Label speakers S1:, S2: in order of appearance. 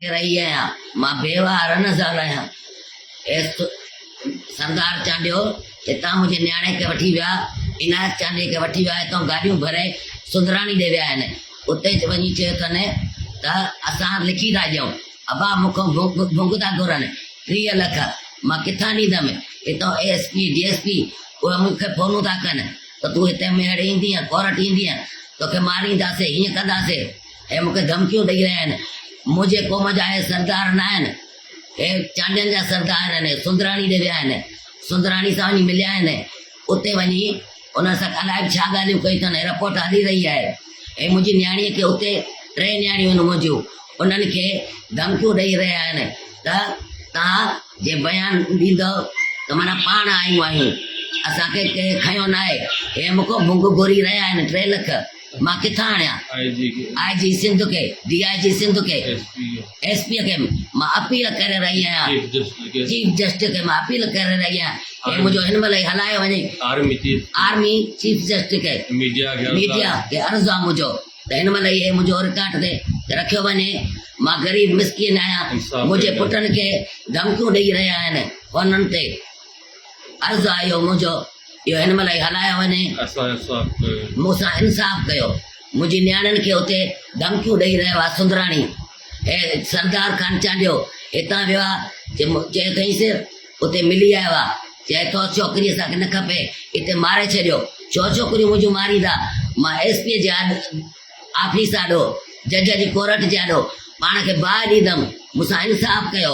S1: ڪري رهي آهيان، مان بيوهه رنه زال آهيان. ايس سردار چانڊيو هتان منهنجي نياڻي کي وٺي ويا، عنايت چانڊيي کي وٺي ويا، هتان گاڏيون ڀري سندراڻي ڏي ويا آهن. اتي وڃي چيو اٿن ته اسان لکي ٿا ڏيون، ابا مون کان ڀونگ ٿا گهرن، ٽيهه لک، مان ڪٿان ڏيندم، هتان A S P, D S P, اهي مون کي فونون ٿا ڪن ته تون هتي ميهڙ ايندينء، ڪورٽ ايندينء، توکي مارينداسين، هيئن ڪنداسين. هي مون کي ڌمڪيون ڏئي رهيا آهن، منهنجي قوم جا هي سردار نه آهن، هي چانڊين جا سردار آهن، هي سندراڻي ڏي ويا آهن، سندراڻي سان وڃي مليا آهن، اتي وڃي انهن سان الائي به ڇا ڳالهيون ڪيون اٿن، هي رپورٽ هلي رهي آهي، هي منهنجي نياڻيء کي اتي ٽي نياڻيون آهن منهنجيون، انهن کي ڌمڪيون ڏئي رهيا آهن ته توهان جي بيان ڏيندؤ ته معنيٰ پاڻ آيون آهيون، اسان کي ڪنهن کنيو ناهي، هي مون کان ڀونگ گهري رهيا آهن، ٽي لک. مان ڪٿان آڻيان آء جي سنڌ کي، ڊي آء جي سنڌ کي، ايس پي کي مان اپيل ڪري رهي آهيان، چيف جسٽس کي مان اپيل ڪري رهي آهيان ته منهنجو هن مهل ئي هلايو وڃي، آرمي چيف جسٽس کي، ميڊيا کي عرض آهي منهنجو ته هن مهل ئي منهنجو رڪارڊ تي رکيو وڃي، مان غريب مسڪين آهيان، منهنجي پٽن کي ڌمڪيون ڏئي رهيا آهن فونن تي. عرض آيو منهنجو اهو هن مهل ئي هلايو وڃي. مون سان انصاف ڪيو. منهنجي نياڻين کي اتي ڌمڪيون ڏئي رهيو آ سندراڻي. هي سردار خان چانڊيو هتان ويو آ چي چيو اٿئينس اتي ملي آيو آ چئي ٿو ڇوڪري اسان کي نه کپي اتي ماري ڇڏيو ڇو ڇوڪريون منهنجون ماريندا مان ايس پي جي آفيس آڏو جج جي ڪورٽ جي آڏو پاڻ کي باهه ڏيندم مون سان انصاف ڪيو.